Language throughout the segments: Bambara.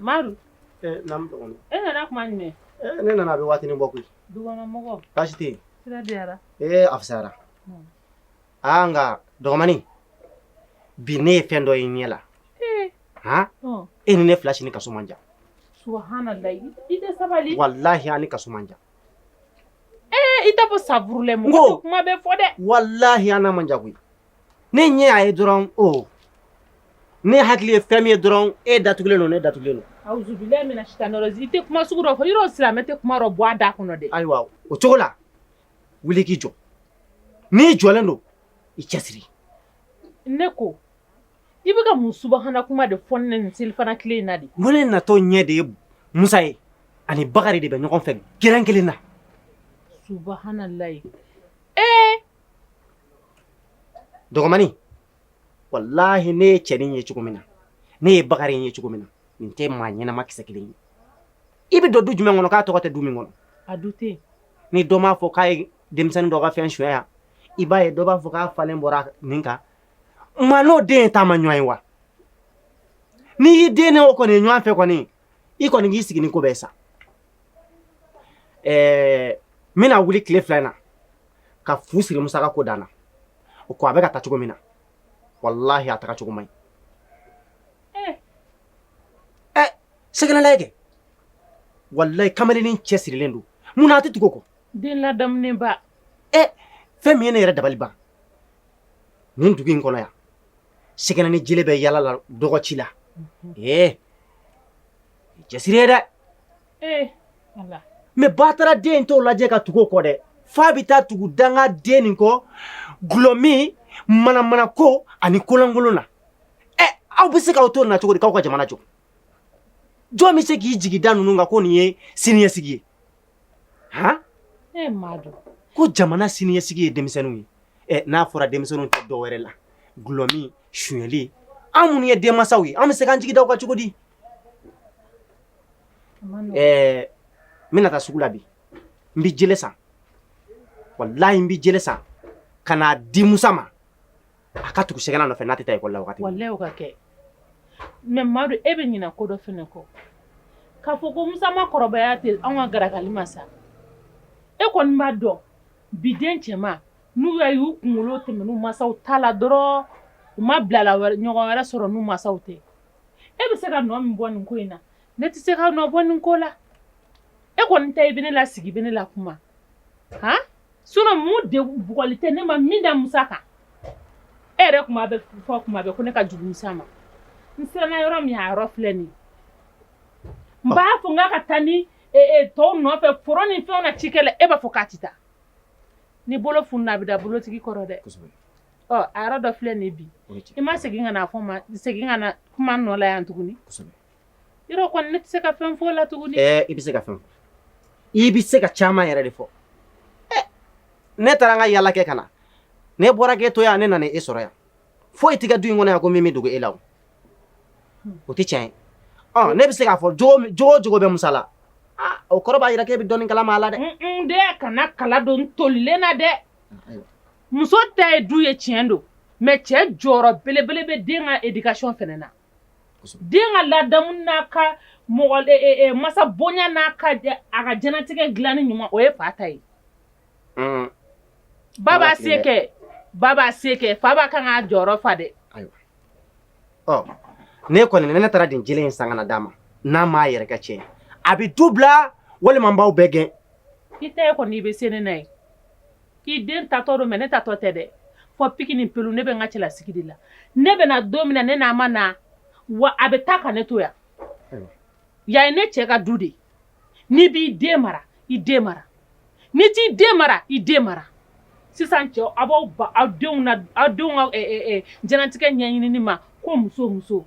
Madu eh, eh, nana kuma jumɛn eh, ne nana a bɛ waatini bɔ koyi dukɔnɔmɔgɔ baasi tɛ yen sira diyara ee a fisayara hmm. aa nka dɔgɔmani bi ne ye fɛn dɔ ye n ɲɛ la han hmm. e ni ne fila si ni kaso man jan subahanalayi i tɛ sabali walahi an ni kaso man jan Ee i tɛ ko safurula mɔgɔ kuma bɛɛ fɔ dɛ walahi an n'a man jan koyi ne ɲɛ y'a ye dɔrɔn o ne hakili ye fɛn min ye dɔrɔn e datugulen don ne datugulen tɛ kuma sugu dɔ yɔrɔ silamɛ tɛ kuma bɔ a da kɔnɔ dɛ ayiwa o cogo la wuli k'i jɔ n'i jɔlen don i cɛ siri ne ko I bɛ ka mun subahana kuma de fɔ ne nin selifana tile in na dɛ? N ko ne natɔ ɲɛ de ye Musa ye ani Bakari de bɛ ɲɔgɔn fɛ gɛrɛn kelen na. Subahanalayi ee! Dɔgɔmani, walahi ne ye cɛnin ye cogo min na, ne ye Bakari ye cogo min na, nin tɛ maa ɲɛnama kisɛ kelen ye. I bɛ don du jumɛn kɔnɔ k'a tɔgɔ tɛ du min kɔnɔ? A du tɛ yen. Ni dɔ m'a fɔ k'a ye denmisɛnnin dɔ ka fɛn sonya yan, i b'a ye dɔ b'a fɔ k'a falen bɔra nin kan, Maa n'o den ye taamaɲɔgɔn ye wa n'i y'i den n'o kɔni ye ɲɔgɔn fɛ kɔni i kɔni k'i sigi ko bɛɛ sa ɛɛ n bɛna wuli tile fila in na ka fu siri Musa ka ko dan na o ko a bɛ ka taa cogo min na walahi a taga cogo man ɲi ɛ sɛgɛnna lajɛ kɛ walayi kamalennin cɛ sirilen don mun na a tɛ tugu o kɔ den ladamulenba ɛ fɛn min ye ne yɛrɛ dabali ban Nin dugu in kɔnɔ yan sɛgɛnna ni jele bɛ yaala la dɔgɔ ci la ee cɛsiri ye dɛ mɛ batara dennin t'o lajɛ ka tugu o kɔ dɛ fo a bɛ taa tugu dangaden nin kɔ dulɔmin manamanako ani kolonkolon na ɛ aw bɛ se k'aw to na cogo di k'aw ka jamana jɔ jɔn bɛ se k'i jigi da ninnu kan ko nin ye siniɲɛsigi ye Ko jamana siniɲɛsigi ye denmisɛnninw ye n'a fɔra denmisɛnninw tɛ dɔ wɛrɛ la dulɔmin suli anw minnu ye denmansaw ye an bɛ se k'an jigi da u kan cogo di n bɛna taa sugu la bi n bɛ jele san walayi n bɛ jele san ka n'a di Musa ma a ka tugu sɛgɛnna nɔfɛ n'a tɛ taa ekɔli la wagati min. Walayi o ka kɛ mais Madu e bɛ ɲinɛ ko dɔ fana kɔ k'a fɔ ko Musa ma kɔrɔbaya ten anw ka garakali ma sa e kɔni b'a dɔn bi den cɛman n'u y'a ye u kunkolo tɛmɛna u mansaw ta la dɔrɔn u ma bilalaɲɔgɔn wɛrɛ sɔrɔ n'u mansaw tɛ e bɛ se ka nɔ min bɔ nin ko in na ne tɛ se ka nɔ bɔ nin ko la e kɔni ta i bɛ ne lasigi i bɛ ne lakuma han. Sinankun de bugɔli tɛ ne ma min da musa kan e yɛrɛ tun b'a fɔ tuma bɛɛ ko ne ka jugu musa ma n siranna yɔrɔ min yɔrɔ filɛ nin n b'a fɔ k'a ka taa ni tɔw nɔfɛ foro ni fɛnw na ka ci kɛ e b'a fɔ k'a tɛ taa ni bolo funna a bɛ da bolotigi kɔrɔ dɛ a dɔ filɛ nin bi i ma segin ka segin ka na kuma nɔ yan tuguni Yɔrɔ kɔni ne tɛ se ka fɛn fɔ a la tuguni ɛɛ i bɛ se ka fɛn fɔ i bɛ se ka caman yɛrɛ de fɔ ne taara n ka yaala kɛ ka na ne bɔra k'e to yan ne nana e sɔrɔ yan fo i tɛ du in kɔnɔ yan ko min bɛ dogo e la o tɛ tiɲɛ ye ne bɛ se k'a fɔ jogo jogo bɛ musa la o kɔrɔ b'a jira k'e bɛ dɔɔni kalama a la dɛ n den kana kala don n tolilen na dɛ muso ta ye du ye tiɲɛ don mɛ cɛ jɔyɔrɔ belebele bɛ den ka éducation fana na den ka ladamu n'a ka mɔgɔ e, e, e, masa bonya n'a ka a ka diɲɛnatigɛ dilanni ɲuman o ye fa ta ye mm. ba b'a se kɛ ba b'a se kɛ fa b'a kan k'a jɔyɔrɔ fa dɛ ɔ ne kɔni ne taara nin jelen in san kana d'a ma n'a m'a yɛrɛ kɛ tiɲɛ a bɛ du bila walima n b'aw bɛɛ gɛn i tɛ kɔni i bɛ se ne na ye K'i den taatɔ don mɛ ne taatɔ tɛ dɛ fo piki ni pɛli ne bɛ n ka cɛlasigi de la ne bɛna don min na ne n'a ma na wa a bɛ taa ka ne to yan yan ye ne cɛ ka du de n'i b'i den mara i den mara n'i t'i den mara i den mara sisan cɛw aw b'aw aw denw aw denw diɲɛnatigɛ ɲɛɲini ma ko muso muso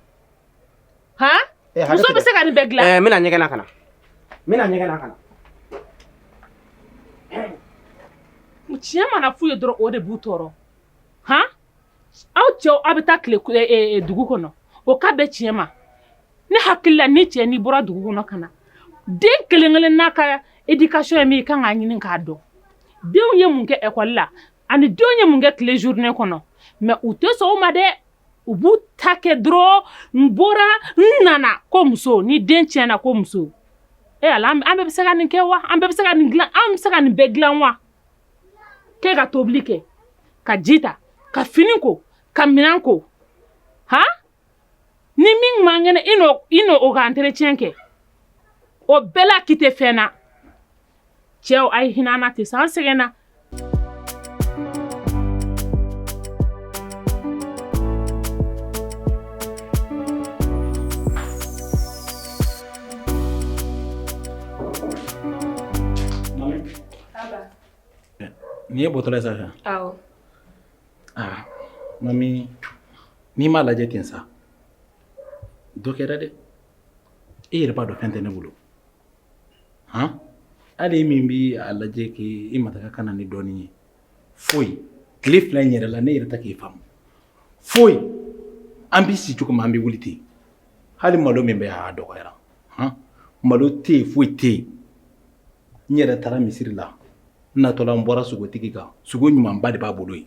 ha eh, muso bɛ se ka nin bɛɛ dilan eh, n bɛna ɲɛgɛn na ka na n bɛna ɲɛgɛn na ka na tiɲɛ mana f'u ye dɔrɔn o de b'u tɔɔrɔ han aw cɛw aw bɛ taa tilen eh, eh, eh, dugu kɔnɔ o ka bɛn tiɲɛ ma ne hakili la ni cɛ n'i bɔra dugu kɔnɔ ka na den kelen kelen n'a ka éducation ye min ye i kan k'a ɲini k'a dɔn denw ye mun kɛ ekɔli la ani denw ye mun kɛ tile journée kɔnɔ mɛ u tɛ sɔn o ma dɛ u b'u ta kɛ dɔrɔn n bɔra n nana ko muso ni den tiɲɛna ko muso e ala an bɛɛ bɛ se ka nin kɛ wa an bɛɛ bɛ se ka nin dilan an bɛ se ka nin bɛɛ dilan wa k'e ka tobili kɛ ka ji ta ka fini ko ka minɛn ko han ni min man kɛnɛ i n'o i n'o o ka entretien kɛ o bɛɛ la k'i tɛ fɛn na cɛw a ye hinɛ an na ten sa an sɛgɛnna Nin ye bɔtɔla ye sa awɔ aa mami n'i m'a lajɛ ten sa dɔ kɛra dɛ e yɛrɛ b'a dɔn fɛn tɛ ne bolo han hali e min bɛ a lajɛ k'i i mataka ka na ni dɔɔnin ye foyi tile fila in yɛrɛ la ne yɛrɛ tɛ k'i faamu foyi an bɛ si cogo min an bɛ wuli ten hali malo min bɛ yan a dɔgɔyara han malo tɛ yen foyi tɛ yen n yɛrɛ taara misiri la n natɔla n bɔra sogotigi kan sogo ɲumanba de b'a bolo yen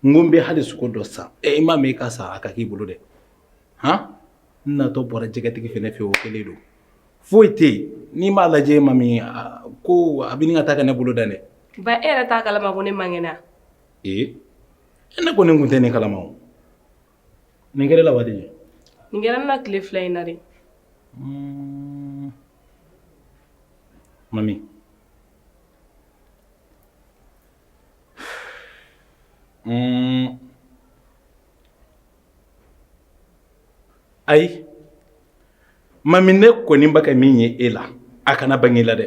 n ko n bɛ hali sogo dɔ san ɛ i m'a mɛn i ka sa a ka k'i bolo dɛ han n natɔ bɔra jɛgɛtigi fɛnɛ fɛ o kelen don foyi tɛ yen n'i m'a lajɛ mami ko a bɛ ɲini ka taa ka ne bolo dan dɛ ba e yɛrɛ t'a kalama ko ne man kɛnɛ ee ne kɔni tun tɛ nin kalama o Nin kɛra la waati de nin kɛra na tile fila in na de mami ayi mami ne kɔni bɛ ka min ye e la a kana bange la dɛ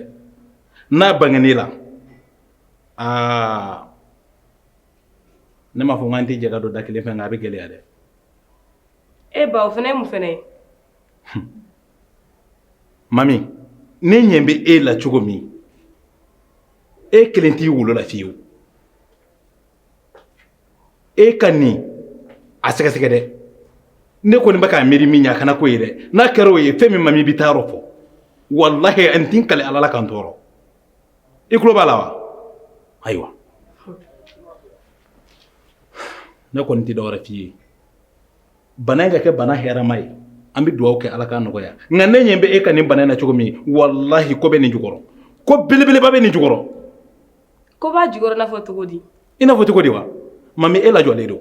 n'a bangena e la aa ne m'a fɔ n k'an tɛ jɛ ka don da kelen fɛ nka a bɛ gɛlɛya dɛ. e ba o fana ye mun fana ye. mami ne ɲɛ bɛ e la cogo min e kelen t'i wolo la fiyewu e ka nin a sɛgɛsɛgɛ dɛ ne kɔni bɛ k'a miiri min ye a kana k'o ye dɛ n'a kɛra o ye fɛn min mami b'i taayɔrɔ fɔ walahi n tɛ n kali ala la ka n tɔɔrɔ. i tulo b'a la wa ayiwa ne kɔni tɛ dɔwɛrɛ f'i ye bana in ka kɛ bana hɛrɛma ye an bɛ dugawu kɛ ala k'a nɔgɔya nka ne ɲɛ bɛ e ka nin bana in na cogo min walahi ko bɛ nin jukɔrɔ ko belebeleba bɛ nin jukɔrɔ ko b'a jukɔrɔ i n'a fɔ cogo di i n'a fɔ cogo di wa mami e lajɔlen don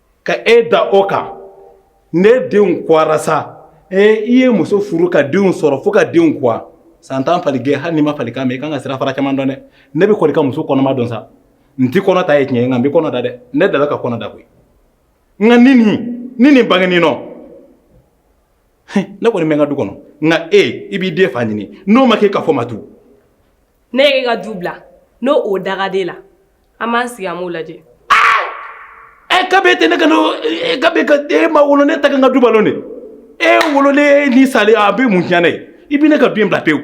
ka e da o kan ne denw kɔgɔra sa ee i ye muso furu ka denw sɔrɔ fo ka denw kɔ san tan fali gɛn hali n'i ma falikan mɛn i ka kan ka sirafara caman dɔn dɛ ne bɛ kɔni ka muso kɔnɔma dɔn sa n tɛ kɔnɔ ta ye tiɲɛ nka n bɛ kɔnɔ da dɛ ne delila ka kɔnɔ da koyi nka ni nin ni nin bange nin nɔ ne kɔni bɛ n ka du kɔnɔ nka e i b'i den fa ɲini n'o ma kɛ ka fɔ ma tu ne ye ka du bila n'o o dangaden la An b'an sigi an b'o lajɛ. Aa! Ɛ kabi e tɛ ne ka n'o e kabi e ma wolo ne ta ka n ka du balo dɛ. E wololen ni salen a bɛ mun tiɲɛ ne ye? I bɛ ne ka du in bila pewu.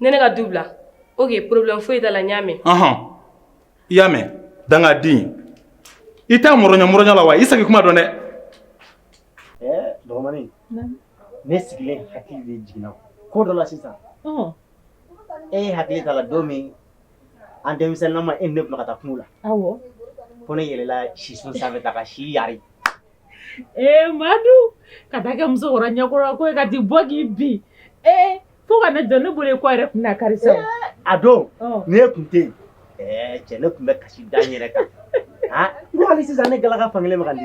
Ne ne ka du bila? Ok problème foyi t'a la n y'a mɛn. Ɔnhɔn, i y'a mɛn? Dangaden. I t'a mɔrɔɲɔ mɔrɔɲɔ la wa? I saki kuma dɔn dɛ. Ɛɛ dɔgɔmanin. Naamu. Ne sigilen hakili de jiginna ko dɔ la sisan. Ɔnhɔn. E hakili t'a la don min an denmisɛnninma e ne ka taa kungo la ko ne yɛlɛla si sun sanfɛ ka si yari ee madu ka taa kɛ musokɔrɔba ɲɛkɔrɔ ko ka di bɔ k'i bi ee fo ka ne dɔn ne bolo kɔ yɛrɛ tun na kari sa a don ni e tun tɛ yen cɛ ne tun bɛ kasi da yɛrɛ kan hali sisan ne galaka fankelen ma di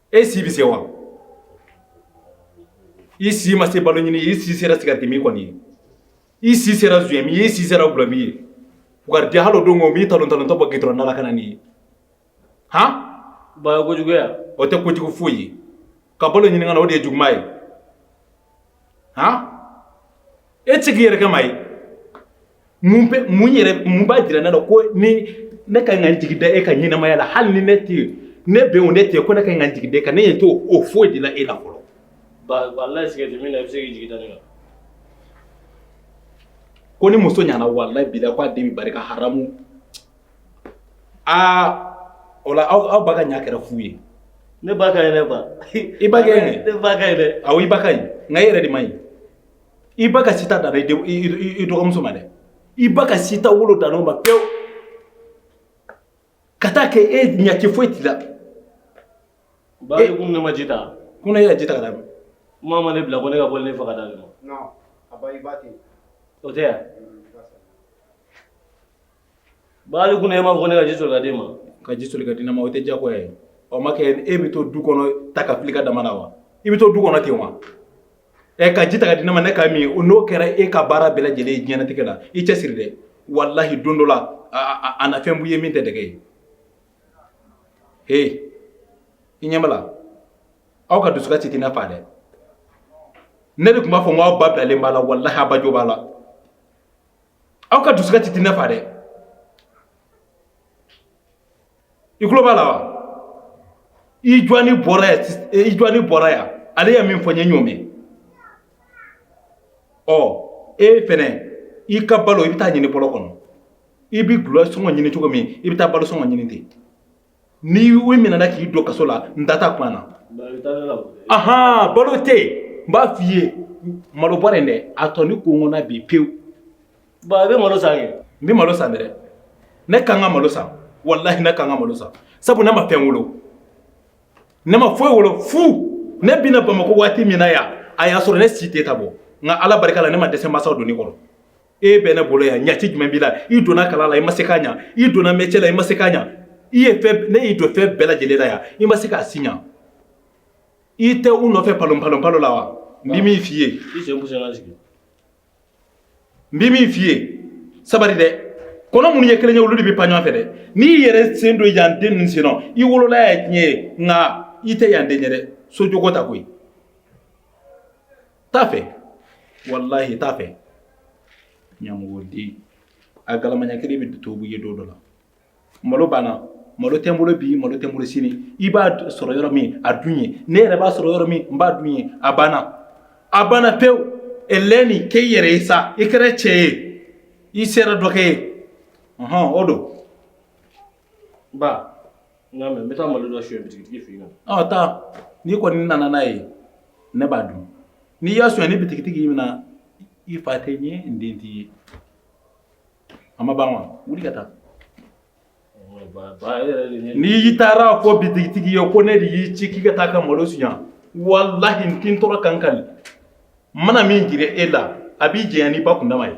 e si bɛ se wa i si ma se balo ɲini ye i si sera sigarɛtimin kɔni ye i si sera zuyɛnmin ye i si sera gulɔmin ye wari hali o don ko m'i talontalontɔ bɔ gitɔrɔn da la ka na n'i ye han baya kojuguya o tɛ kojugu foyi ye ka balo ɲini ka na o de ye juguman ye han e tɛ se k'i yɛrɛ kɛ maa ye mun bɛ mun yɛrɛ mun b'a jira ne la ko ni ne ka kan ka n jigi da e ka ɲɛnamaya la hali ni ne tɛ yen ne bɛ yen o ne tɛ yen ko ne ka kan ka n jigi da e kan ne ɲɛ t'o foyi de la e la fɔlɔ. ba walayi sigarɛti min na i bɛ se k'i jigi da ne kan. ko ni muso ɲana walayi bilayi k'a den bɛ barika haramu aa o la aw aw ba ka ɲa kɛra fu ye. ne ba ka ɲi dɛ ba. i ba ka ɲi. ne ba ka ɲi dɛ. awɔ i ba ka ɲi nka e yɛrɛ de man ɲi. i ba ka sita danna i denw- i- i- i dɔgɔmuso ma dɛ i ba ka sita wolo dan o ma pewu ka taa kɛ e ɲaci foyi t'i la ba ye kun ne ma ji ta ko ne yɛrɛ ji ta ka d'a ma kuma ma ne bila ko ne ka bɔ ne faga dalen ma Non, a ba i ba ten. o tɛ yan Bali kunna e m'a fɔ ne ka ji soli ka d'e ma ka ji soli ka di ne ma o tɛ diyagoya ye ɔ ma kɛ e bɛ to du kɔnɔ ta ka fili ka dama na wa i bɛ to du kɔnɔ ten wa ɛ ka ji ta ka di ne ma ne ka min o n'o kɛra e ka baara bɛɛ lajɛlen ye diɲɛnatigɛ la i cɛ siri dɛ walahi don dɔ la a na fɛn b'u ye min tɛ dɛgɛ ye he i ɲɛ b'a la aw ka dusukasi tɛ ne fa dɛ ne de tun b'a fɔ n k'aw ba bilalen b'a la walahi a ba jo b'a la aw ka dusukasi tɛ ne fa dɛ i tulo b'a la wa i jɔni bɔra yan eh, i jɔni bɔra yan ale ye min fɔ an ye ɲɔgɔn mɛn ɔ e fɛnɛ i ka balo i bɛ taa ɲini bɔlɔn kɔnɔ i bɛ gulɔ sɔngɔ ɲini cogo min i bɛ taa balo sɔngɔ ɲini ten n'i minɛna k'i don kaso la n da t'a kuma na ahan balo tɛ yen n b'a f'i ye malo bɔra yen dɛ a tɔ ni ko ŋɔna bi pewu ba i bɛ malo san kɛ n bɛ malo san dɛ ne ka kan ka malo san walahi ne ka kan ka malo san sabu ne ma fɛn wolo ne ma foyi wolo fu ne bɛ na bamakɔ waati min na yan a y'a sɔrɔ ne si tɛ tan bɔ nka ala barika la ne ma dɛsɛ masaw doni kɔrɔ e bɛ ne bolo yan ɲɛci jumɛn b'i la i donna kalan la i ma se k'a ɲa i donna mɛcɛ la i ma se k'a ɲa i ye fɛn ne y'i don fɛn bɛɛ lajɛlen la yan i ma se k'a si ɲa i tɛ u nɔfɛ palonpalonpalo la wa n bɛ min f'i ye n bɛ min f'i ye sabari dɛ kɔnɔ minnu ye kelen ye olu de bɛ pan ɲɔgɔn fɛ dɛ n'i yɛrɛ sen don yan den ninnu sen nɔ i wolola yan tiɲɛ ye nka i tɛ yan den ye dɛ so jogo ta koyi T'a fɛ walahi t'a fɛ ɲamɔgɔden a galama ɲa kelen bɛ to ye don dɔ la malo banna malo tɛ n bolo bi malo tɛ n bolo sini i b'a sɔrɔ yɔrɔ min a dun yen ne yɛrɛ b'a sɔrɔ yɔrɔ min n b'a dun yen a banna a banna pewu ɲinini kɛ i yɛrɛ ye sa i kɛra cɛ ye i sera dɔ kɛ ye ɔnhɔn o don Ba n y'a mɛn n bɛ taa malo dɔ suɲɛ bitigi fɛ yen. Ɔ taa n'i kɔni nana n'a ye ne b'a dun n'i y'a suɲɛ ni bitigitigi y'i minɛ i fa tɛ n ye n den t'i ye a ma ban wa wuli ka taa. N'i taara a fɔ bitigitigi ye ko ne de y'i ci k'i ka taa ka malo suɲɛ walahi n tɛ n tɔɔrɔ ka n kali n mana min jira e la a bɛ janya n'i ba kundama ye.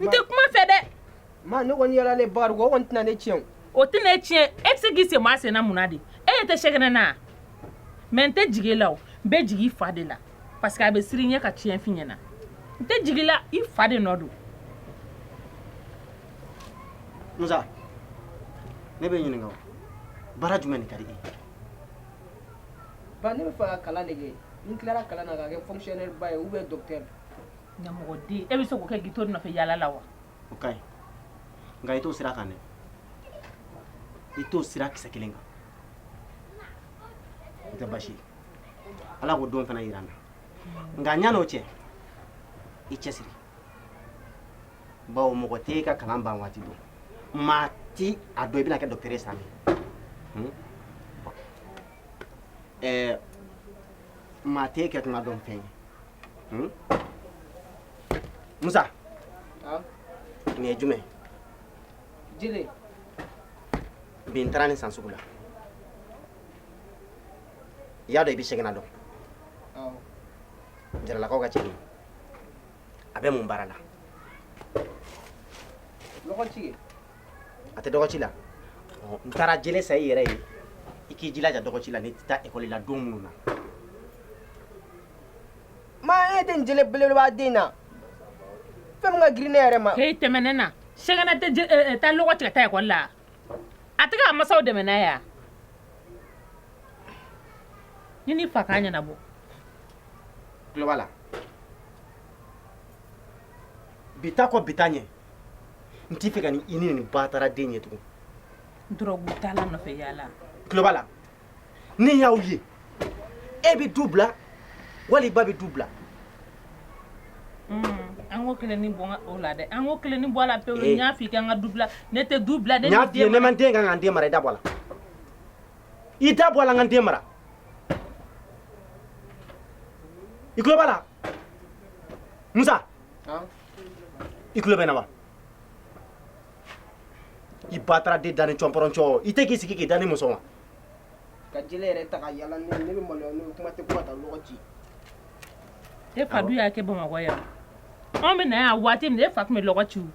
n tɛ kuma fɛ dɛ ma ne kɔni yala ne ba o kɔni tɛna ne tiɲɛ o tɛ ne tiɲɛ e bɛ se k'i sen maa senna mun na de e yɛrɛ tɛ sɛgɛn ne na mais n tɛ jigi i la o n bɛ jigi i fa de la parce que a bɛ siran i ɲɛ ka tiɲɛ f'i ɲɛna n tɛ jigi i la i fa de nɔ don musa ne b'i ɲininka o baara jumɛn de ka di e ye ba ne bɛ fɛ ka kalan de kɛ ni n tilara kalan na ka kɛ fonctionnaire ba ye ou bien docteur Mɔgɔden e bɛ se k'o kɛ ka to u nɔfɛ yaala la wa o ka ɲi nka i t'o sira kan dɛ i t'o sira kisɛ kelen kan a tɛ basi ala k'o don fana jira an na nka yanni o cɛ i cɛ siri bawo mɔgɔ tɛ e ka kalan ban waati don maa tɛ a dɔn i bɛna kɛ docteur ye san hmm? maa tɛ e kɛtɔ dɔn fɛn ye Hmm? Musa. Aa. Nin ye jumɛn ye? Jele. Bi n taara nin san sugu la. I y'a dɔn i bɛ segin na dɔn. Awɔ. Jaralakaw ka cɛnin. A bɛ mun baara la? Lɔgɔci. A tɛ dɔgɔci la. N taara jele san i yɛrɛ ye. I k'i jilaja dɔgɔci la n'i tɛ taa ekɔli la don minnu na. maa e tɛ nin jele belebeleba den na fɛn min ka girin ne yɛrɛ ma he tɛmɛ ne na sɛgɛnɛ tɛ je- eh, eh, taa lɔgɔ ci kɛ taa ekɔli la a tɛ k'a masaw dɛmɛ n'a ye a ɲini fa k'a ɲɛnabɔ tulo b'a la bi ta kɔ bi ta ɲɛ n t'i fɛ ka ni i ni nin batara den ye tugun dɔrɔgu tala nɔfɛ yaala tulo b'a la ni n y'aw ye e bɛ du bila wala i ba bɛ du bila an ko kelen ni bɔ ka- o la dɛ an ko kelen ni bɔ a la pewu Eh. n y'a f'i ka n ka du bila ne tɛ du bila ne n y'a b'i f'i ye ne ma n den ka kan ka n den mara i da bɔ a la i da bɔ a la n ka n den mara i tulo b'a la musa i tulo bɛ n na wa i bataraden dani cɔnpɔrɔncɔ i tɛ k'i sigi k'i dani muso ma ka jele yɛrɛ ta ka yaala n'o ye ne bɛ maloya n'o ye kuma tɛ kuma taa lɔgɔ ci e fa dun y'a kɛ bamakɔ yan anw bɛ na yan waati min e fa tun bɛ lɔgɔ ci n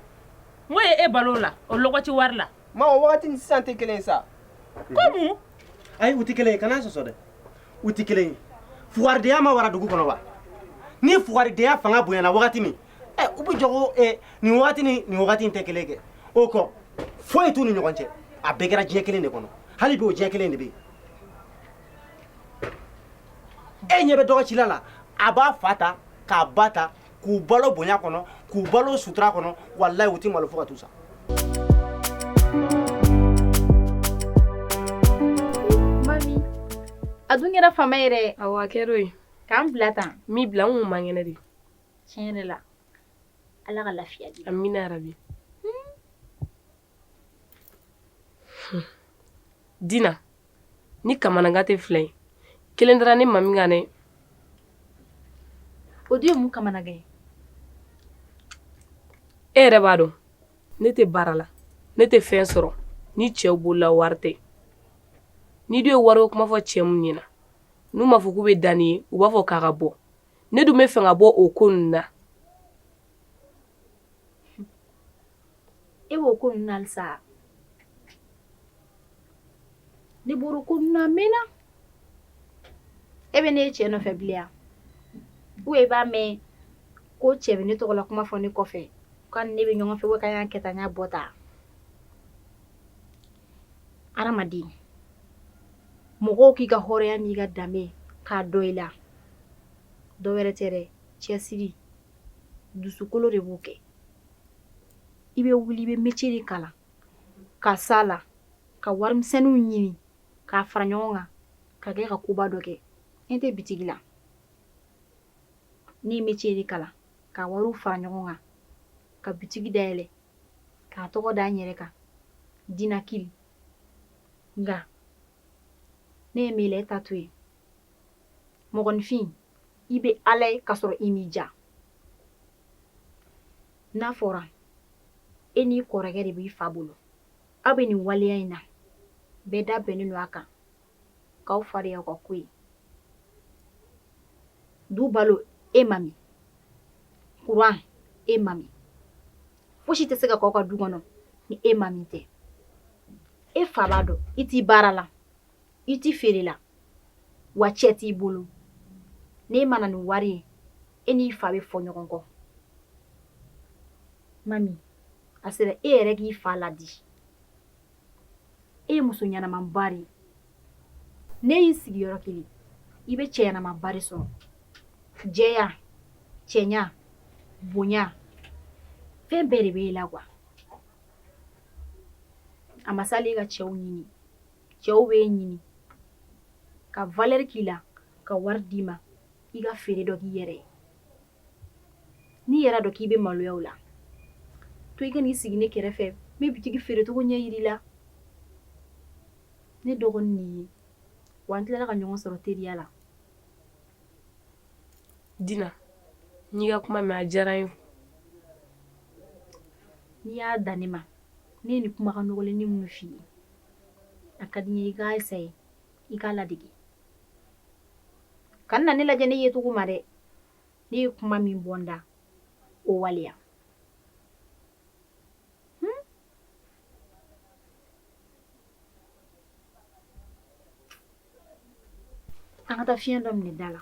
ko ye e balola o lɔgɔ ci wari la ma o wagati ni sisan tɛ kelen ye sa ko mun ayi u tɛ kelen ye kana n sɔsɔ dɛ u tɛ kelen ye fugaridenya ma wara dugu kɔnɔ wa ni fugaridenya fanga bonyana wagati min ɛ u bɛ jɔgo nin wagati ni nin wagati in tɛ kelen kɛ o kɔ foyi t'u ni ɲɔgɔn cɛ a bɛɛ kɛra diɲɛ kelen de kɔnɔ hali bi o diɲɛ kelen de bɛ yen e ɲɛ bɛ dɔgɔcila la a b'a fa ta k'a ba ta k'u balo bonya kɔnɔ k'u balo sutura kɔnɔ walayi u tɛ malo fo ka t'u sa a dun kɛra faama yɛrɛ awa kɛra ye k'an bila tan mi bila n kun man kɛnɛ de tiɲɛ de la ala ka lafiya di amina yarabi hmm. hmm. dina ne kamanagan tɛ fila ye kelen dara ne ma min kan dɛ o dun ye mun kamanagan ye e yɛrɛ b'a dɔn ne tɛ baara la ne tɛ fɛn sɔrɔ ni cɛw bolola wari tɛ n'i dun ye wari ko kuma fɔ cɛ min ɲɛna n'u m'a fɔ k'u bɛ da n'i ye u b'a fɔ k'a ka bɔ ne dun b'a fɛ n ka bɔ o ko nin na e b'o ko nin na sa ne bɔra ko nin na mɛnna e bɛ ne ye cɛ nɔfɛ bilen wa e b'a mɛn ko cɛ bɛ ne tɔgɔ la kuma fɔ ne kɔfɛ k'a ni ne bɛ ɲɔgɔn fɛ k'an y'a kɛ tan n y'a bɔ tan adamaden mɔgɔw k'i ka hɔrɔnya n'i ka danbe k'a dɔn i la dɔ wɛrɛ tɛ dɛ cɛsiri dusukolo de b'o kɛ i bɛ wuli i bɛ metier de kalan ka s'a la ka warimisɛnninw ɲini k'a fara ɲɔgɔn kan ka kɛ ka koba dɔ kɛ n tɛ bitigi la ne ye metier de kalan ka wariw fara ɲɔgɔn kan ka bitigi dayɛlɛ k'a tɔgɔ da n yɛrɛ kan dinakiri nka ne ye mele ta to yen mɔgɔninfin i bɛ ala ye k'a sɔrɔ i m'i ja n'a fɔra e n'i kɔrɔkɛ de b'i fa bolo aw bɛ nin waleya in na bɛɛ da bɛnnen don a kan ka aw fariya ka ko ye du balo e mami kuran e mami fosi tɛ se ka k'aw ka du kɔnɔ ni e mami tɛ e fa b'a dɔn i tɛ baara la i tɛ feere la wa cɛ t'i bolo n'e ma na ni wari ye e n'i fa bɛ fɔ ɲɔgɔn kɔ mami a sera e yɛrɛ k'i fa ladi e ye muso ɲɛnamanba de ye n'e y'i sigi yɔrɔ kelen i bɛ cɛ ɲɛnamanba de sɔrɔ jɛya cɛɲa bonya fɛn bɛɛ de bɛ e la quoi a ma s'a la i ka cɛw ɲini cɛw bɛ e ɲini ka valeur k'i la ka wari d'i ma i ka feere dɔ k'i yɛrɛ ye n'i yɛrɛ dɔn k'i bɛ maloya la to i ka n'i sigi ne kɛrɛfɛ n bɛ bitigi feerecogo ɲɛ jir'i la ne dɔgɔnin nin ye wa an tilala ka ɲɔgɔn sɔrɔ teriya la dina n y'i ka kuma mɛn a diyara n ye n'i y'a dan ne ma ne ye nin kumakan nɔgɔlen ni minnu f'i ye a ka di n ye i k'a ye i k'a ladege kana ne lajɛ ne yecogo ma dɛ ne ye kuma min bɔ n da o waleya hmm? an ka taa fiɲɛ dɔ minɛ da la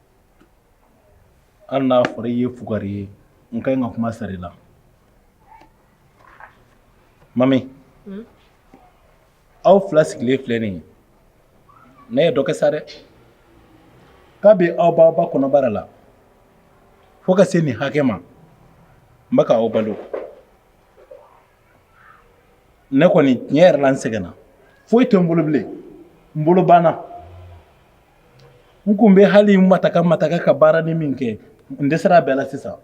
Hali n'a fɔra i ye fugari ye n ka ɲi ka kuma sara i la mami aw fila sigilen filɛ nin ye ne ye dɔ kɛ sa dɛ kabi aw b'aw ba kɔnɔbara la fo ka se nin hakɛ ma n bɛ k'aw balo ne kɔni tiɲɛ yɛrɛ la n sɛgɛnna foyi tɛ n bolo bilen n bolo banna n kun bɛ hali n mataka mataka ka baaranin min kɛ n dɛsɛra a bɛɛ la sisan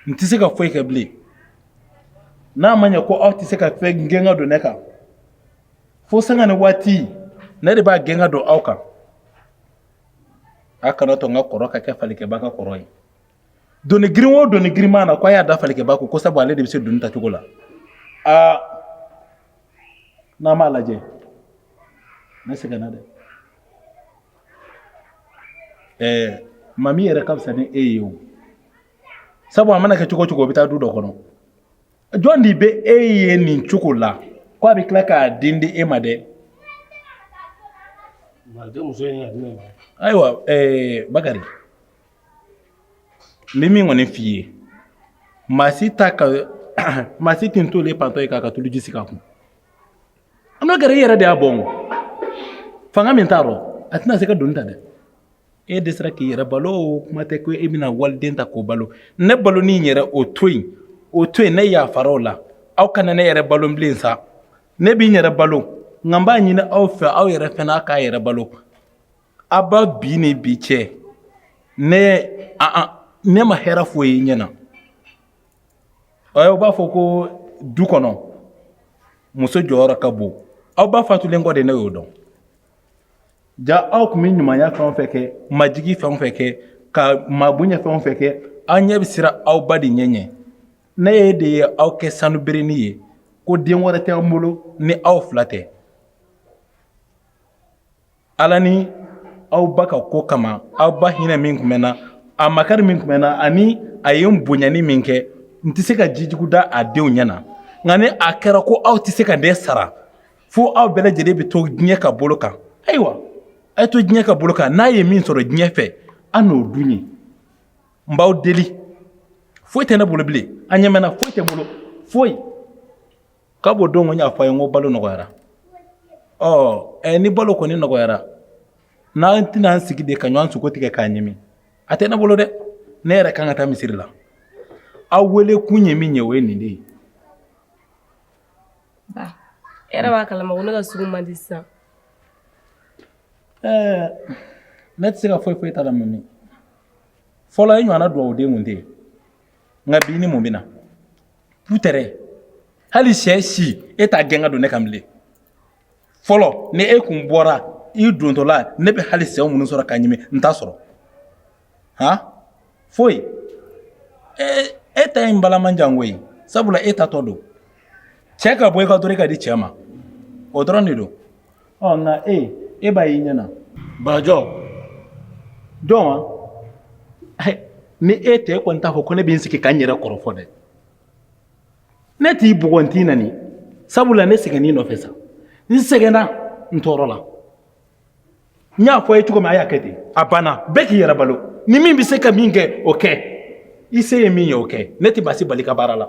n tɛ se ka foyi kɛ bilen n'a ma ɲɛ ko aw tɛ se ka fɛn gɛn ka don ne kan fo sanga ni waati ne de b'a gɛn ka don aw kan a kana to n ka kɔrɔ ka kɛ falikɛba ka kɔrɔ ye doni girin o doni girinma na ko a y'a da falikɛba kɔ ko sabu ale de bɛ se doni tacogo la aa n'an b'a lajɛ ne sɛgɛnna dɛ ɛɛ maa min yɛrɛ ka fisa ni e ye o sabu a mana kɛ cogo cogo o bɛ taa du dɔ kɔnɔ jɔn de bɛ e ye nin cogo la ko a bɛ tila k'a den di e ma dɛ ayiwa ɛɛ bakari n bɛ min kɔni f'i ye maa si ta ka maa si tɛ ntori pantɔ ye k'a ka tuluji sigi a kun an bɛ gɛrɛ i yɛrɛ de y'a bɔn fanga min t'a rɔ a tɛna se ka doni ta dɛ e de sera k'i yɛrɛ balo o kuma tɛ ko e bɛna waliden ta k'o balo ne baloni yɛrɛ o to yen o to yen ne yafara o la aw kana ne yɛrɛ balo bilen sa ne bɛ n yɛrɛ balo nka n b'a ɲini aw fɛ aw yɛrɛ fana aw k'aw yɛrɛ balo Aw ba bin ni bi cɛ ne ne ma hɛrɛ foyi ye ɲɛ na aw b'a fɔ ko du kɔnɔ muso jɔyɔrɔ ka bon aw ba fatulen kɔ de ne y'o dɔn jaa aw tun bɛ ɲumanya fɛn fɛn kɛ majigin fɛn fɛn kɛ ka maa bonya fɛn fɛn kɛ an ɲɛ bɛ siran aw ba de ɲɛ ɲɛ ne ye de ye aw kɛ sanu berenin ye ko den wɛrɛ tɛ an bolo ni aw fila tɛ ala ni aw ba ka ko kama aw ba hinɛ min tun bɛ na a makari min tun bɛ na ani a ye n bonyani min kɛ n tɛ se ka jijugu da a denw ɲɛ na nka ni a kɛra ko aw tɛ se ka ne sara fo aw bɛɛ lajɛlen bɛ to diɲɛ ka bolo kan ayiwa a ye to diɲɛ ka bolo kan n'a ye min sɔrɔ diɲɛ fɛ aw n'o dun yen n b'aw deli foyi tɛ ne bolo bilen a y'a mɛn wa foyi tɛ n bolo foyi Ka bɔ don o n y'a fɔ a ye ko balo nɔgɔyara ɔ ni balo kɔni nɔgɔyara n'an tɛna an sigi de ka ɲɔgɔn sogo tigɛ k'a ɲimi a tɛ ne bolo dɛ ne yɛrɛ ka kan ka taa misiri la aw wele kun ye min ye o ye nin de ye e b'a kala ma ne ka sogo man di sisan ɛɛ ne tɛ se ka foyi fɔ e ta la mami fɔlɔ e ɲɔgɔn duwawu den kun tɛ yen nka bi ni mun bɛ na Pu tɛrɛn hali syɛ si e t'a gɛn ka don ne kan bilen fɔlɔ ni e kun bɔra i dontɔla ne bɛ hali syɛw minnu sɔrɔ ka ɲimi n t'a sɔrɔ han foyi ee e ta in bala man jan koyi sabula e taatɔ don cɛ ka bɔ i kan dɔrɔn i k'a di cɛ ma o dɔrɔn de don ɔ nka e e b'a y'i ɲɛna barajɔ dɔn wa ni e tɛ e kɔni t'a fɔ ko ne bɛ n sigi ka n yɛrɛ kɔrɔfɔ dɛ ne t'i bugɔ n t'i nani sabula ne sɛgɛnna i nɔfɛ sa n sɛgɛnna n tɔɔrɔla n y'a fɔ a ye cogo min a y'a kɛ ten a banna bɛɛ k'i yɛrɛ balo ni min bɛ se ka min kɛ o kɛ i se ye min ye o kɛ ne tɛ maa si bali ka baara la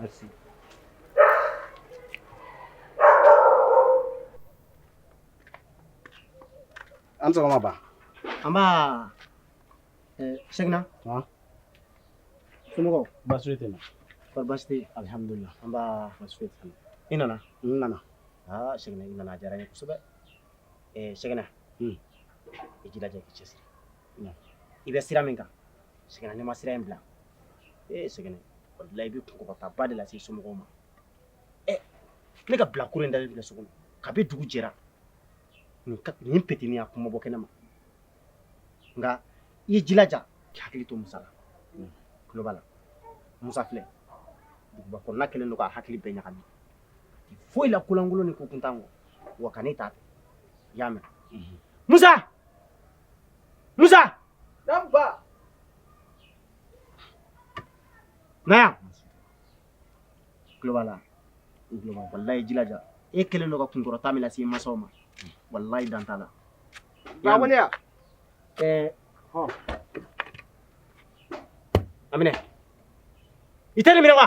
Merci. A' ni sɔgɔma ba. Nba. Eh, Segna. Wa. Somɔgɔw. Baasi tɛ na. Kɔri baasi tɛ. Alihamudulila. Nba. Baasi tɛ na. I nana. N nana. Aa Segna i nana a diyara n ye kosɛbɛ. Eh, Segna. Hmm. I jilaja i k'i cɛsiri. I bɛ sira min kan. Segna n'i ma sira in bila ee Segna i bɛ kunkɔrɔtaba de lase somɔgɔw ma ɛ ne ka bilakoro in da bila so ka bɛ dugu jɛra nin petini a kuma bɔ kɛnɛ ma nka i ye jilaja hakili to musa la tulo b'a la musa filɛ duguba kɔnɔna kɛlen don k'a hakili bɛɛ ɲagami foyi la ko lankolon ni ko kuntan kɔ wa ka ne t'a fɛ i y'a mɛn musa Musa! Naamu ba! Na yan! Tulo b'a la, i tulo b'a la, walayi jilaja, e kɛlen don ka kunkɔrɔta min lase i masaw ma, walayi dan t'a la. Ba ko ne ya? Ɛɛ, hɔn. A minɛ, i tɛ nin minɛ wa?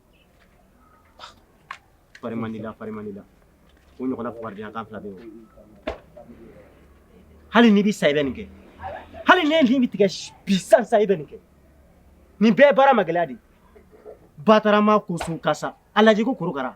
Fari man di la fari man di la o ɲɔgɔnna fugariyakan fila bɛ yen hali n'i bɛ sa i bɛ nin kɛ hali n'e nin bɛ tigɛ bi sisan sa i bɛ nin kɛ nin bɛɛ ye baara ma gɛlɛya de ye batarama ko sun ka sa a lajɛ ko korokara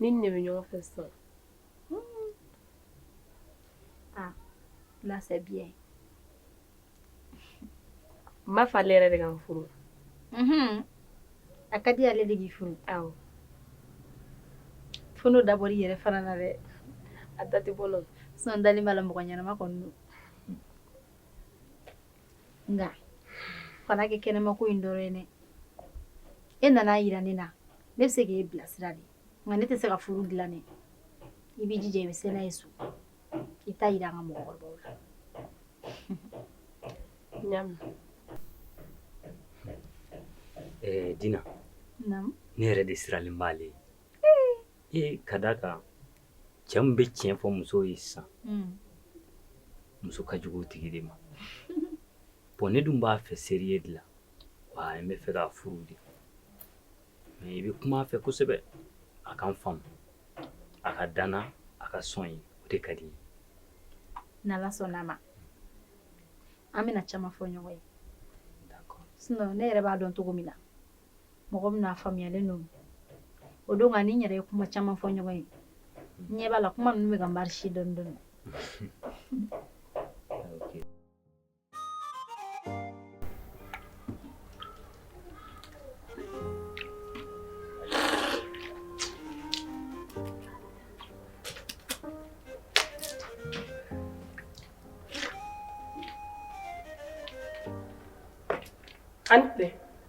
Ni ne bɛ ɲɔgɔn fɛ sɔn aa na bi n b'a fɛ ale yɛrɛ de ka n furu a ka di ale de furu furu dabɔ yɛrɛ fana na dɛ a da tɛ bɔ sa n dalen b'a la mɔgɔ ɲɛnama kɔnɔ nka a kana kɛ kɛnɛmako in dɔrɔn ye dɛ e nana a yira ne na ne bɛ se k'e bilasira de nka ne tɛ se ka furu dilan dɛ i b'i jija i bɛ se n'a ye so i t'a yira an ka mɔgɔkɔrɔbaw la naamu ɛɛ dina ne yɛrɛ de sirannen b'ale ɲɛ ee ka d'a kan cɛ min bɛ tiɲɛ fɔ muso ye sisan muso ka jugu tigi de ma bon ne dun b'a fɛ seriye de la wa n b'a fɛ k'a furu de mɛ i bɛ kuma fɛ kosɛbɛ a ka n faamu a ka da n na a ka sɔn n ye o de ka di n ye n'i sɔnna ma an bɛna caman fɔ ɲɔgɔn ye ne yɛrɛ b'a dɔn cogo min na mɔgɔ bɛna faamuyalen don o don ka ni n yɛrɛ ye kuma caman fɔ ɲɔgɔn ye ɲɛ b'a la kuma ninnu bɛ ka marise dɔɔni dɔɔni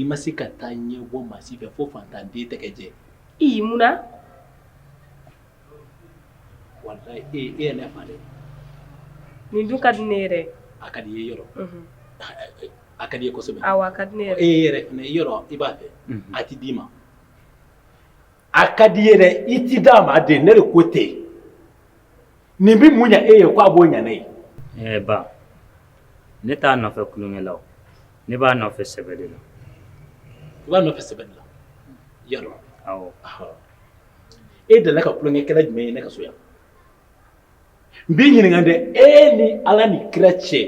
I ma se ka taa ɲɛ bɔ maa si fɛ fo faantan den tɛgɛ jɛ ye mun na walayi e ye ne fa dɛ nin dun ka di ne ye dɛ a ka di i yɔrɔ a ka di i e yɛrɛ i b'a fɛ a tɛ d'i ma A ka di ye dɛ i ti d'a ma dɛ ne den ko tɛ nin bɛ mun ɲɛ e ye k' a b'o ɲɛ ne ye ɛɛ ba ne t'a nɔfɛ kolonya la ne b'a nɔfɛ sɛbɛ de la i b'a nɔfɛ sɛbɛ de la wa e delila ka kolonyakɛla jumɛn ye ne ka so yan n b'i ɲininka dɛ e ni ala ni kira cɛ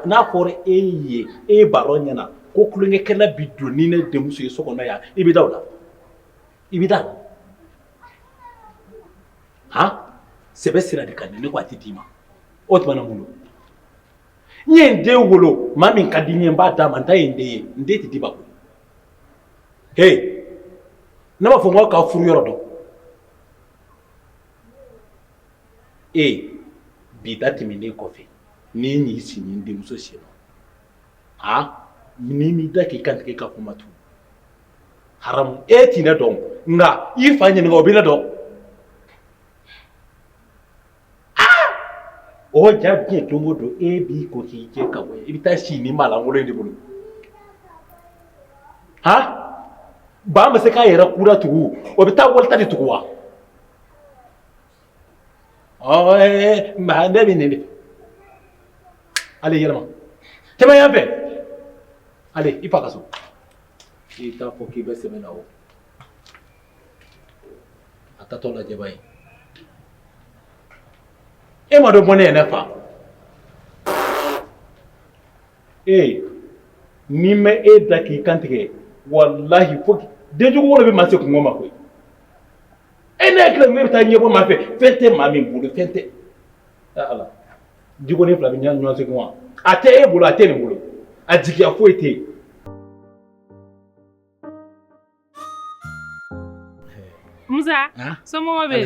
n'a fɔra e ye e baara ɲɛna ko kolonyakɛla bɛ don ni ne denmuso ye so kɔnɔ yan i bɛ da o la i bɛ taa han sɛbɛ sira de kan ne ko a tɛ d'i ma o tuma na mun don n ye n den wolo maa min ka di n ye n b'a d'a ma n ta ye n den ye n den tɛ d'i ma koyi he ne b'a fɔ n ko k'a furu yɔrɔ dɔn ee bi ta tɛmɛnen kɔfɛ n'i y'i sigi n denmuso sen na han n'i m'i da k'i kan tigɛ ka kuma tugun e ti ne dɔn nka i fa ɲininka o bɛ ne dɔn o ja diɲɛ don o don e b'i ko k'i jɛ ka bɔ i bɛ taa sigi maalankolon de bolo ha ba ma se k'a yɛrɛ kura tugu o bɛ taa wali ta de tugu wa nka ne bɛ nin de ale yɛlɛma cɛman yan fɛ ale i fa ka so k'i t'a fɔ k'i bɛ sɛbɛn na o a tatɔ lajɛba ye e ma dɔ bɔ ne yɛrɛ fa ee ni n ma e da k'i kantigɛ walahi fo denjugu wolo bɛ maa se kunko ma koyi e ne hakili ne bɛ taa ɲɛbɔ maa fɛ fɛn tɛ maa min bolo fɛn tɛ ala Di ko ne fila bɛ ɲɛ ɲɔgɔn segu wa a tɛ e bolo a tɛ ne bolo a jigiya foyi tɛ yen musa so bɛ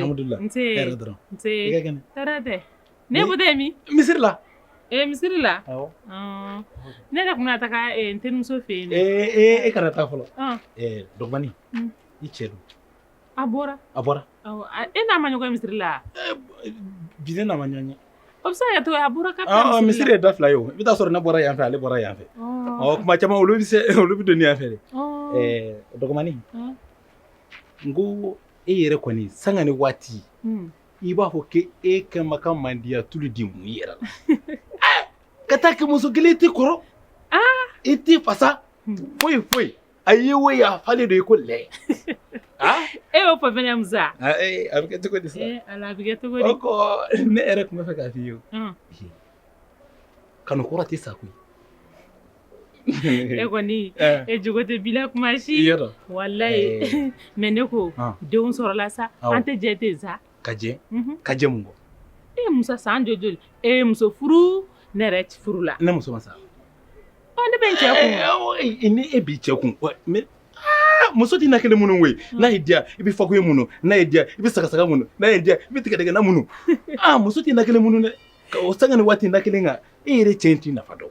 ne bɛ tɛmɛ misiri la ee misiri la ne yɛrɛ tun taa n terimuso fɛ yen e kana taa fɔlɔ dɔgɔnin i cɛ dun A bɔra a bɔra e n'a ma ɲɔgɔn misiri la bi ne n'a ma ɲɔgɔn ye o bɛ se ka to a bɔra misiri ye da fila ye o i bɛ t'a sɔrɔ ne bɔra yanfɛ ale bɔra yanfɛ ɔ tuma caman olu bɛ se olu bɛ don yan fɛ ɛɛ o dɔgɔnin n ko e yɛrɛ kɔni sanga ni waati i b'a fɔ k' e ka ma ka mandiya tulu de mun i yɛrɛ ka taa kɛmɛ muso kelen i tɛ kɔrɔ i tɛ fasa foyi foyi A ye wo ye a falen don i ko lɛ. Aa! E y'o fɔ fana Musa? A ee a bɛ kɛ cogo di sa? Ee Ala a bɛ kɛ cogo di? O ko ne yɛrɛ tun bɛ fɛ k'a f'i ye o. Ɔn! Kanu kɔrɔ tɛ sa koyi. E kɔni e jogo tɛ bila tuma si. I y'a dɔn. Walayi. Mais ne ko denw sɔrɔla sa, an tɛ jɛ ten sa? ka jɛ ka jɛ mun e musa san jɔ joli e ye muso furu ne yɛrɛ bɛ furu la ne muso ma sa ne bɛ cɛ kun ni e b'i cɛ kun muso tɛ na kelen munu koyi hmm. n'a y'i diya i bɛ fakoye munu n'a y'i diya i bɛ sagasaga munu n'a y'i diya i bɛ tigɛdɛgɛna munu aa muso tɛ na kelen munu dɛ o sanga ni waati na kelen kan e yɛrɛ cɛ in t'i nafa dɔn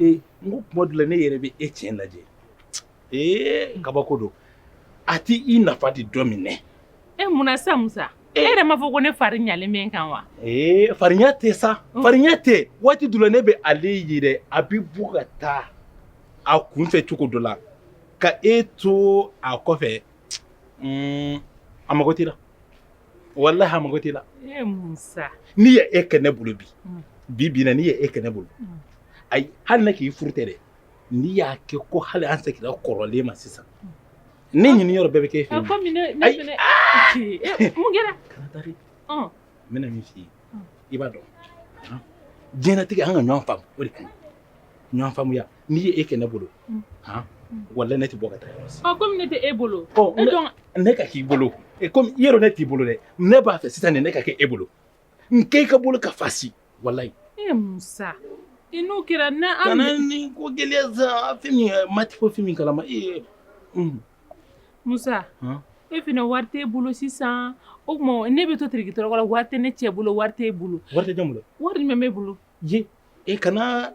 Ee n ko tuma dɔ la ne yɛrɛ bɛ e cɛ lajɛ ee kabako don a tɛ i nafa de dɔn min dɛ e munna sa musa e yɛrɛ m'a fɔ ko ne fari ɲalen bɛ n kan wa ee fari ɲa tɛ sa fari ɲa tɛ waati dɔ la ne bɛ ale yɛrɛ a bɛ bɔ ka taa a kun fɛ cogo dɔ la ka e to a kɔfɛ a mago t'i la walahi a mago t'i la n'i ye e kɛ ne bolo bi mm. bi bi na n'i ye e kɛ ne bolo mm. ayi hali ne k'i furu tɛ dɛ n'i y'a kɛ ko hali an seginna kɔrɔlen ma sisan mm. ne ɲini yɔrɔ bɛɛ bɛ k'e fɛ yen komi ne ne fɛnɛ mun kɛra kana taa dɛ n bɛna min f'i ye i b'a dɔn diɲɛlatigɛ an ka ɲɔgɔn faamu o de ka ɲi ɲɔgɔn faamuya n'i ye e kɛ ne bolo han walahi ne tɛ bɔ ka taa yɔrɔ si. Ɔ komi ne tɛ e bolo. Ɔ e ne dɔn ne ka k'i bolo e komi i yɛrɛ ne t'i bolo dɛ ne b'a fɛ sisan nin ne ka kɛ e bolo n kɛ i ka bolo ka fasi walahi. E Musa i n'o kɛra na an kana nin ko gɛlɛya sa fɛn min ma tɛ ko fɛn min kalama ee. Musa e fana wari t'e bolo sisan o tuma ne bɛ to tirikitɔrɔkɔ la wari tɛ ne cɛ bolo wari t'e bolo. Wari tɛ jɔn bolo. Wari jumɛn b'e bolo. ye e kana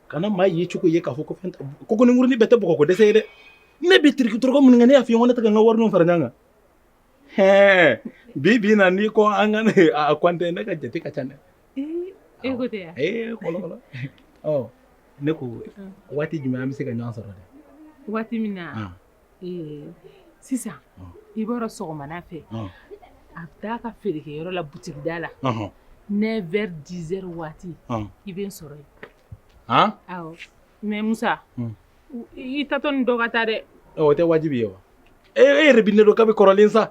kana maa yecogo ye k'a fɔ ko fɛn kogonin kurunin bɛɛ tɛ bɔgɔko dɛsɛ ye dɛ ne bɛ tirikitɔrɔkɔ minnu kɛ ne y'a fɔ i ye ko ne tɛ ka n ka warininw fara ɲɔgɔn kan hɛɛ bi bi in na n'i ko an ka n'a kɔnte ne ka jate ka ca dɛ e ko tɛ yan ee kɔlɔkɔlɔ ɔ ne ko waati jumɛn an bɛ se ka ɲɔgɔn sɔrɔ dɛ waati min na sisan i b'a dɔn sɔgɔmada fɛ a bɛ taa a ka feerekɛyɔrɔ la butigida la neuf heures dix heures waati i bɛ n sɔrɔ yen awɔ mais Musa i taatɔ ni dɔ ka taa dɛ o tɛ wajibi ye wa e yɛrɛ bɛ ne dɔn kabi kɔrɔlen sa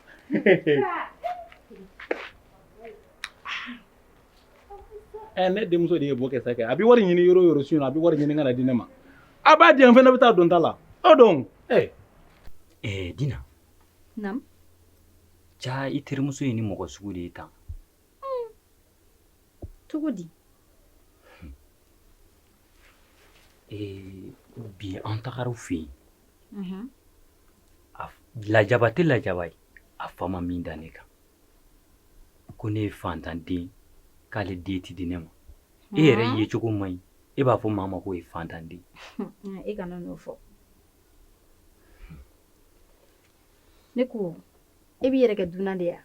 ɛ ne denmuso de ye bɔ kɛ sa kɛ a bɛ wari ɲini yɔrɔ o yɔrɔ su in a bɛ wari ɲini ka na di ne ma a b'a di yan fɛnɛ bɛ taa don ta la o don ɛ ɛɛ dina naamu jaa i terimuso ye nin mɔgɔ sugu de ye tan cogo di bi an tagara u fɛ yen lajaba tɛ lajaba ye a fa ma min da ne kan ko ne ye fantanden k'ale den tɛ di ne ma e yɛrɛ yecogo man ɲi e b'a fɔ maa ma ko i ye fantanden e kana n'o fɔ ne ko e b'i yɛrɛ kɛ dunan de ye wa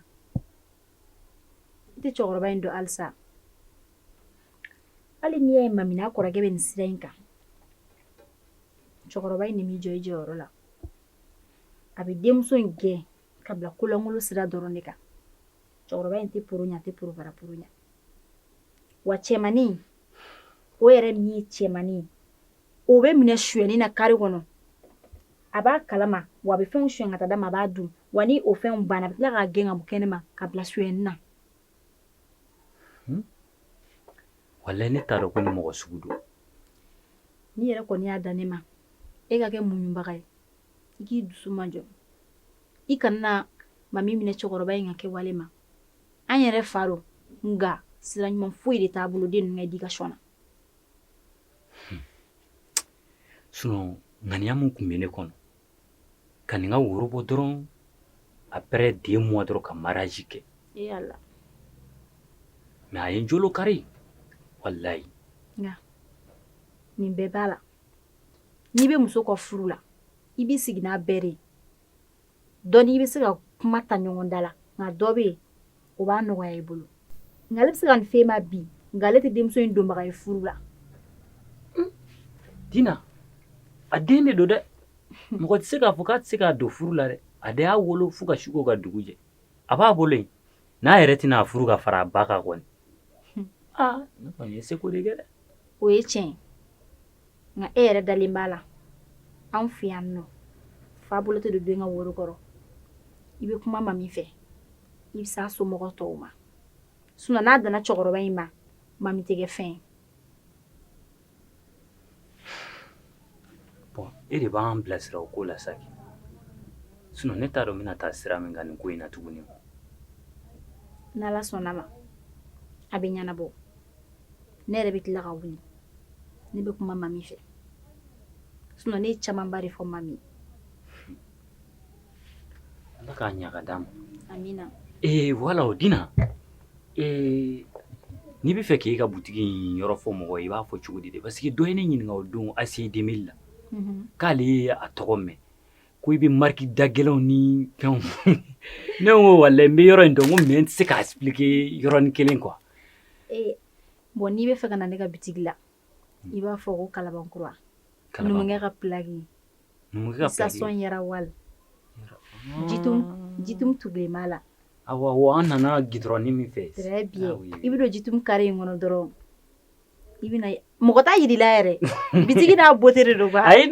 N tɛ cɛkɔrɔba in dɔn halisa hali n'i y'a ye Mami n'a kɔrɔkɛ bɛ nin sira in kan cɛkɔrɔba in n'i m'i jɔ i jɔyɔrɔ la a bɛ denmuso in gɛn ka bila kolonlankolon sira dɔrɔn de kan cɛkɔrɔba in tɛ poro ɲɛ tɛ porooro ɲɛ wa cɛmannin o yɛrɛ min ye cɛmannin ye o bɛ minɛ suyɛni na kari kɔnɔ a b'a kalama wa a bɛ fɛnw suyɛn ka taa d'a ma a b'a dun wa ni o fɛnw banna a bɛ tila k'a gɛn ka bɔ kɛnɛma ka bila suyɛni na hmm? walayi ne t'a dɔn ko nin mɔgɔ sugu don n'i yɛrɛ kɔni y'a da ne ma e ka kɛ muɲunbaga ye i k'i dusu majɔ i kana Mami minɛ cɛkɔrɔba in ka kɛwale ma an yɛrɛ fa don nka sira ɲuman foyi de t'a bolo den ninnu ka edikasɔn na sinɔn ŋaniya min tun bɛ ne kɔnɔ ka nin ka woro bɔ dɔrɔn après deux mois dɔrɔn ka mariage kɛ mais a ye n jolo kari walayi nin bɛɛ b'a la n'i bɛ muso ka furu la i bɛ sigi n'a bɛɛ de Dɔn i bɛ se ka kuma ta ɲɔgɔn da la nka dɔ bɛ yen o b'a nɔgɔya i bolo n'ale bɛ se ka nin fɔ e ma bi nka ale tɛ denmuso in donbaga ye furu la tiɲɛ na a den de don dɛ mɔgɔ tɛ se k'a fɔ k'a tɛ se k'a don furu la dɛ a de y'a wolo fo ka su ko ka dugu jɛ a b'a bolo yen n'a yɛrɛ tɛna a furu ka fara a ba kan kɔni aa ne kɔni ye seko de kɛ dɛ o ye tiɲɛ ye nka e yɛrɛ dalen b'a la anw fɛ yan nɔ fa bolo tɛ don den ka woro kɔrɔ i bɛ kuma mami fɛ i bɛ s'a somɔgɔ tɔw ma sinɔn n'a danna cɛkɔrɔba in ma mami tɛ kɛ fɛn ye e de b'an bilasira o ko la sa kɛ sinɔn ne t'a dɔn n bɛna taa sira min kan nin ko in na tuguni n'ala sɔnna ma a bɛ ɲɛnabɔ ne yɛrɛ bɛ tila ka wuli ne bɛ kuma mami fɛ sinɔn ne ye camanba de fɔ mami ye Ala k'a ɲaga d'a ma ee wala o dina ee n'i b'a fɛ k'i ka butigi in yɔrɔ fɔ mɔgɔ i b'a fɔ cogo di de parce que dɔ ye ne ɲininka o don ACI deux mille la k'ale ye a tɔgɔ mɛn ko i bɛ mariki dagɛlɛnw ni fɛnw ne ko wa n bɛ yɔrɔ in dɔn ko mɛ n tɛ se k'a expliquer yɔrɔnin kelen kuwa bɔn n'i b'a fɛ ka na ne ka bitigi la i b'a fɔ ko kalabankura kalabankɛ ka pki station Yara Oil jitumu bɛ ma la an nana gudurɔn min fɛ bi i bɛ don jitumu kare in kɔnɔ dɔrɔn i bɛna mɔgɔ t'a jira i la yɛrɛ bitigi n'a bɔt de don ayi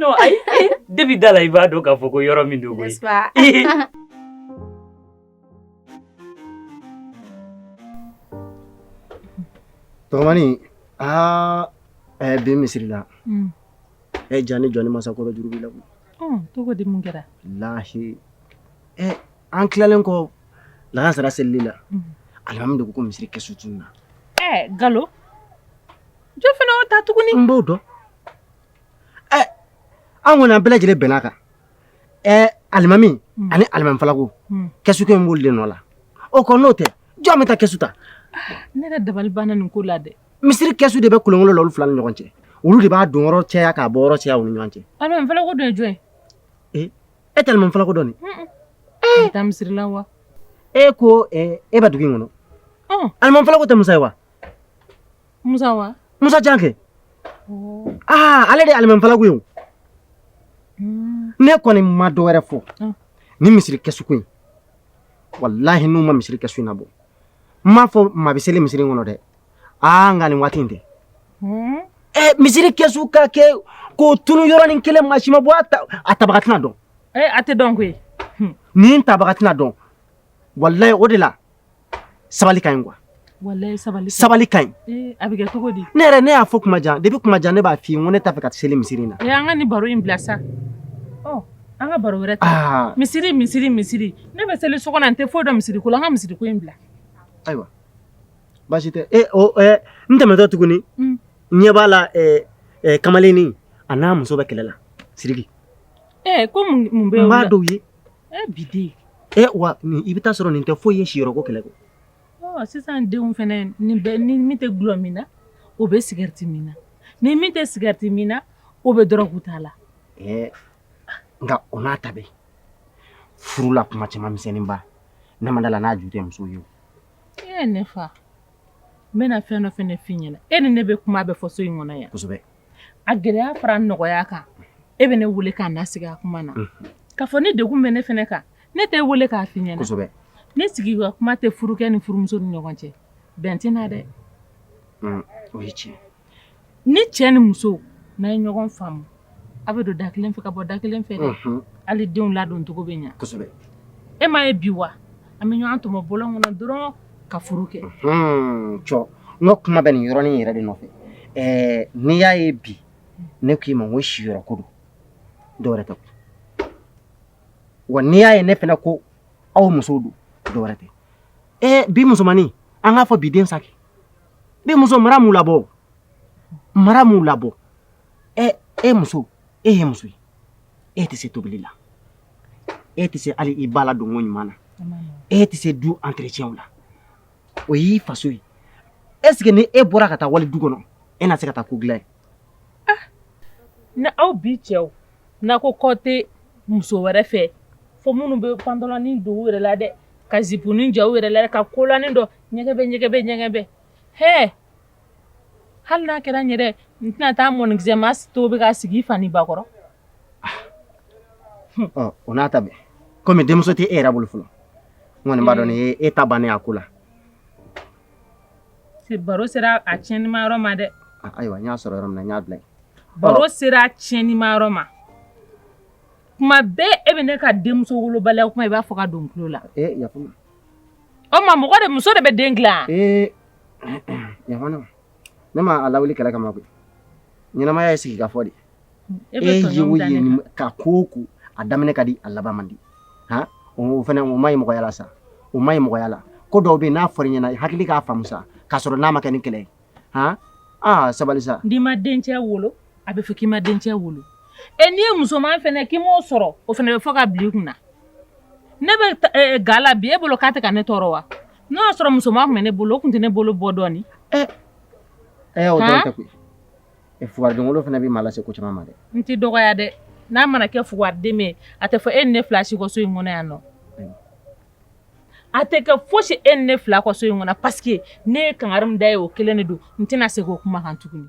de bɛ da la i b'a dɔn k'a fɔ ko yɔrɔ min don tɔgɔmani aa ɛɛ bi misiri la ɛ ja ni jɔ ni masakɔrɔ juru b'i la koyi tɔgɔ di mun kɛra lahi ɛ an tilalen kɔ lagansara seli la alimami de ko ko misiri kɛsu tununna ɛ galo jɔn fana o ta tuguni n b'o dɔn ɛ an kɔni an bɛɛ lajɛlen bɛnn'a kan ɛɛ alimami hmm. ani alimami falago hmm. kɛsuko in b'olu de nɔ la o kɔ n'o tɛ jɔn bɛ taa kɛsu ta ne yɛrɛ dabali banna nin ko la dɛ misiri kɛsu de bɛ kolonkolo la olu fila ni ɲɔgɔn cɛ olu de b'a don yɔrɔ cɛya k'a bɔ yɔrɔ cɛya u ni ɲɔgɔn cɛ alimami falago dɔ ye jɔn ye ee e tɛ alimami falago dɔn ni ee taa misiri la wa e ko e bɛ dugu in kɔnɔ alimami falago tɛ musa ye wa Musa wa? Musa jan kɛ. Oh. Aa ale de alimamifalanko ye. Hmm. Ne kɔni ma dɔ wɛrɛ fɔ. Ah. Ni misiri kɛsuko in. Walahi n'u ma misiri kɛsu in nabɔ. N m'a fɔ maa bɛ seli misiri in kɔnɔ dɛ. Aa nka nin waati in tɛ. Hmm. Ɛ eh, misiri kɛsu ka kɛ k'o tunun yɔrɔnin kelen maa si ma bɔ a tabaga tɛna dɔn. Ee eh, a tɛ dɔn koyi. Nin tabaga tɛna dɔn. Walayi o de la. sabali ka ɲi kuwa sabali ka ɲi eh, a bɛ kɛ cogo di ne yɛrɛ ne y'a fɔ kuma jan depuis kuma jan ne b'a f'i ye n ko ne t'a fɛ ka seli misiri in na eh, an ka nin baro in bila sa oh, an ka baro wɛrɛ ta ah. misiri misiri misiri ne bɛ seli so kɔnɔ n tɛ foyi dɔn misiri ko la an ka misiri ko in bila ayiwa baasi tɛ e o ɛ n tɛmɛtɔ tuguni n ɲɛ b'a la kamalennin a n'a muso bɛ kɛlɛ la siriki ee ko mun bɛ n b'a dɔw ye Eh, bi den. Eh, wa nin, i bɛ t'a sɔrɔ nin tɛ foyi ye siyɔrɔko kɛlɛ kɔ. Ɔɔ, sisan denw fana ni bɛ ni min tɛ dulɔ min na, o bɛ cigarette min na, ni min tɛ cigarette min na, o bɛ drogue ta la. Eh, nka o n'a ta bɛɛ, furu la kuma caaman misɛnnin ba, ne ma d'a la n'a ju tɛ muso ye o. Eh, ne fa, n bɛna fɛn dɔ fana fɔ i ɲɛna, e ni ne bɛ kuma bɛɛ fɔ so in kɔnɔ yan. Kosɛbɛ. a gɛlɛya fara nɔgɔya kan e bɛ ne weele ka na sigi a kuma na k'a fɔ ni degun bɛ ne fana kan ne t'e weele k'a f'i ɲɛna ni sigi ka kuma tɛ furukɛ ni furumuso ni ɲɔgɔn cɛ bɛn tɛ na dɛ ni cɛ ni muso n'a ye ɲɔgɔn faamu a bɛ don da kelen fɛ ka bɔ da kelen fɛ hali denw ladoncogo bɛ ɲɛ kosɛbɛ e m'a ye bi wa An bɛ ɲɔgɔn tɔmɔ bɔlɔn kɔnɔ dɔrɔn ka furu kɛ. Unhun cɔ n ka kuma bɛ nin yɔrɔnin in yɛrɛ de nɔfɛ. Ɛɛ n'i y'a ye bi ne k'i ma ko siyɔrɔko don, dɔ wɛrɛ tɛ koyi. Wa n'i y'a ye ne fana ko aw musow don, dɔ wɛrɛ tɛ. Ee bi musomannin, an k'a fɔ bi den sa kɛ. Bi muso mara m'u labɔ o, mara m'u labɔ. Ɛ e muso e ye muso ye e tɛ se tobili la e tɛ se hali i ba ladonko ɲuman na e tɛ se du entretien la o y'i faso ye est ce que ni e bɔra ka taa wali du kɔnɔ e na se ka taa ko dilan yen ah ni aw bi cɛw n'a ko kɔ tɛ muso wɛrɛ fɛ fo minnu bɛ pantalɔni don u yɛrɛ la dɛ ka zipunin jɔ u yɛrɛ la ka kolanin don ɲɛgɛbɛ ɲɛgɛbɛ ɲɛgɛbɛ hɛɛ Hali n'a kɛra n yɛrɛ n tɛna taa mɔnikisɛ mas to bɛ ka sigi fa ni ba kɔrɔ o n'a ta bɛɛ kɔmi denmuso tɛ e yɛrɛ bolo fɔlɔ kɔni an b'a dɔn nin e ta bannen y'a ko la baro sera a tiɲɛnanima yɔrɔ ma dɛ ayiwa n y'a sɔrɔ yɔrɔ min y'a bila baro sera a tiɲɛnanima yɔrɔ ma kuma bɛɛ e bɛ ne ka denmuso wolobaliya kuma i b'a fɔ ka don la o ma mɔgɔ de muso de bɛ den dilan Yafa ne ma ne ma a lawuli kɛlɛ kama koyi ɲɛnamaya ye sigi ka fɔ de ye e ye o ye ka ko o ko a daminɛ ka di a laban man di han o fana o man ɲi mɔgɔya la sa o man ɲi mɔgɔya la ko dɔw bɛ yen n'a fɔra i ɲɛna i hakili k'a faamu sa k'a sɔrɔ n'a ma kɛ ni kɛlɛ ye han aa sabali sa n'i ma dencɛ wolo a bɛ fɔ k'i ma dencɛ wolo e n'i ye musoman fana k'i m'o sɔrɔ o fana bɛ fɔ ka bila i kunna ne bɛ ga la bi e bolo k'a tɛ ka ne tɔɔrɔ wa N'o y'a sɔrɔ musoman tun bɛ ne bolo o tun tɛ ne bolo bɔ dɔɔnin ɛ ɛ o dɔrɔn tɛ koyi ɛ fugaridenwolo fana bɛ maa lase ko caman ma dɛ n t'i dɔgɔya dɛ n'a mana kɛ fugariden min ye a tɛ fɔ e ni ne fila si kɔ so in kɔnɔ yan nɔ a tɛ kɛ fosi e ni ne fila kɔ so in kɔnɔ parce que ne ye kangari min da e ye o kelen de don n tɛna segin o kuma kan tuguni